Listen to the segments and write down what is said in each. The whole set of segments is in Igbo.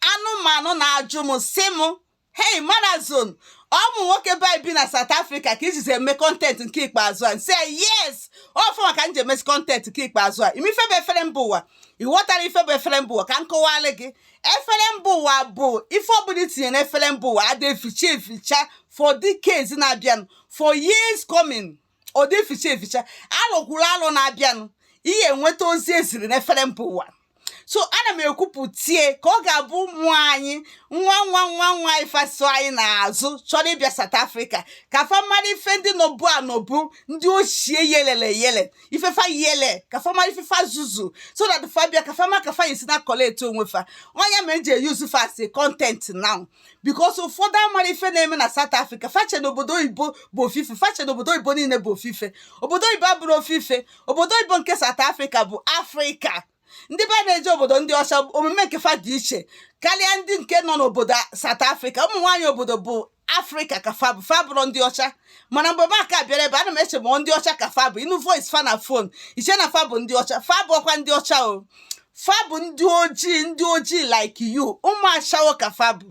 anụmanụ na-ajụ m sị m hei manazon ụmụ nwoke be anyị bi na South Africa ka i jizi eme content nke ikpeazụ a m sị yes ọfụ maka m ji emezi content nke ikpeazụ a ị ma ife bụ efere mba ụwa ị ghọtara ife bụ efere mba ụwa ka m kọwalị gị efere mba ụwa bụ ife ọbụla i tinye na efere mba ụwa adị eficha eficha for decades na-abịanụ for years coming ọ dị eficha eficha alọ kwuru alọ na-abịanụ ị ya-enweta ozi e ziri n'efere mba ụwa so ana m ekwupụta ya ka ọ ga-abụ ụmụ anyị nwa nwa nwa nwa anyị fa so anyị n'azụ chọrọ ịbịa South Africa ka fa mara ife ndị nọbu anọbu ndị ochie yelele yele ife fa yele ka fa mara ife fa zuzu so that fa bịa ka fa ma ka fa ya-esi na-collect onwe fa ọ nya me e ji e-use fa as content now because ụfọdụ amarọ ife na-eme na South Africa fa che na obodo oyibo bụ ofu ife fa che na obodo oyibo niile bụ ofu ife obodo oyibo abụrọ ofu ife obodo oyibo nke South Africa bụ Afrịka ndị be anyị na-eje obodo ndị ọcha omume nke fa dị iche karịa ndị nke nọ n'obodo South Africa ụmụ nwaanyị obodo bụ afrịka ka fa bụ fa abụrọ ndị ọcha mana mgbe m aka-abịarọ ebe a ana m eche ma ndị ọcha ka fa bụ ị nụ voice fa na phone i chee na fa bụ ndị ọcha fa abụrọkwa ndị ọcha o fa bụ ndị ojii ndị ojii like you ụmụ ashawo ka fa bụ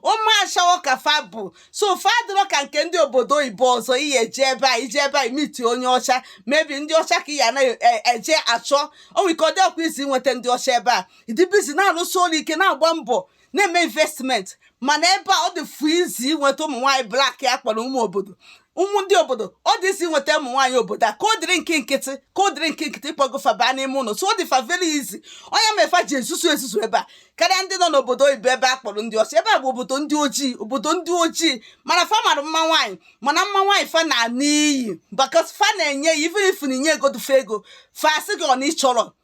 ụmụ ashawo ka fa bụ so fa adịrọ ka nke ndị obodo oyibo ọzọ ị ya-eje ebe a i je ebe a i meet onye ọcha maybe ndị ọcha ka ị ya na-eje achọ o nwe ike ọ dịrọkwa easy inweta ndị ọcha ebe a dị busy na-alụsi ọlụ ike na-agba mbọ na-eme investment mana ebe a ọ dị fụ easy inweta ụmụ nwaanyị black a kpọrọ ụmụ obodo ụmụ ndị obodo ọ dị easy inweta ụmụ nwaanyị obodo a ka ọ dịrị nke nkịtị ka ọ dịrị nke nkịtị ị kpọgo fa baa n'ime ụlọ so ọ dị fa very easy ọ nya me fa ji ezuzu ezuzu ebe a karịa ndị nọ n'obodo oyibo ebe a kpọrọ ndị ọcha ebe a bụ obodo ndị ojii obodo ndị ojii mana fa mara mma nwaanyị mana mma nwaanyị fa na-ana iyi because fa na-enye ya even if na i nyegodu fa ego fa sị gị ọ na ị chọrọ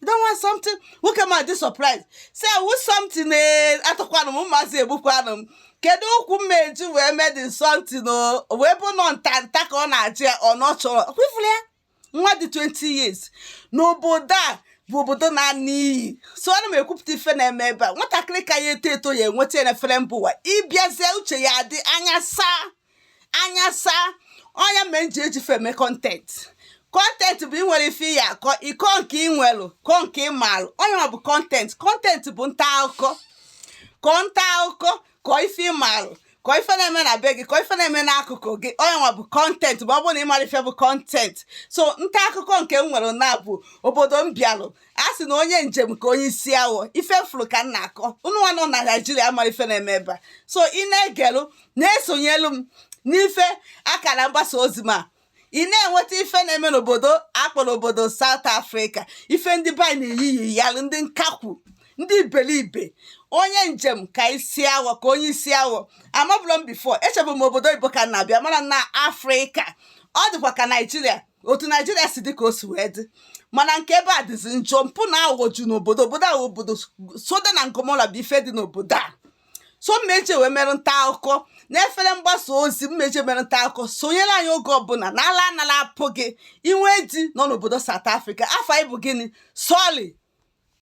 you don't want something nwoke m adị surprise say I want something ee atọkwanụ m mmasị egbukwanụ m kedu ụkwụ m eji wee mee the something o O wee bụ nọ nta nta ka ọ na-ajụ ya ọ na ọ chọrọ kwefula ya nwa dị 20 years n'obodo a bụ obodo na-ana iyi so ana m ekwupụta ife na-eme ebe a nwatakịrị ka ya-eto eto ya-enweta ya na efere mba ụwa ị bịazie uche ya adị anya saa anya saa ọ nya mere m ji eji fa eme content content bụ i nwere ife ị ya-akọ ị kọọ nke ị nwelụ kọọ nke ị maalụ ọ nya bụ content content bụ nta akụkọ kọ nta akụkọ kọ ife ị maalụ kọ ife na-eme na be gị kọ ife na-eme n'akụkụ gị ọ nya nwa bụ content ma ọ bụrụ na ị marọ ife bụ content so nta akụkọ nke m nwere na bụ obodo m bịalụ a sị na onye njem ka onye isi awọ ife m fụrụ ka m na-akọ unu nwa nọ na Naịjirịa mara ife na-eme ebe a so ị na-egelụ na-esonyelu m n'ife akara mgbasa ozi ma ị na-enweta ife na-eme n'obodo a kpọrọ obodo South Africa ife ndị be anyị na-eyiyi yalụ ndị nkakwu ndị iberibe onye njem ka isi awọ ka onye isi awọ amabụlọ m before echebu m obodo oyibo ka na-abịa mara na afrịka ọ dịkwa ka naijiria otu naijiria si dị ka o si wee dị mana nke ebe a dịzi njọ mpụ na aghụghọ ju n'obodo obodo ahụ obodo Sodom na Gomora bụ ife dị n'obodo a so mmeche wee mere nta akụkọ n'efere mgbasa ozi mmeche mere nta akụkọ sonyere anyị oge ọbụla na ala anala apụ gị inwe di nọ n'obodo South Africa afọ anyị bụ gịnị sorry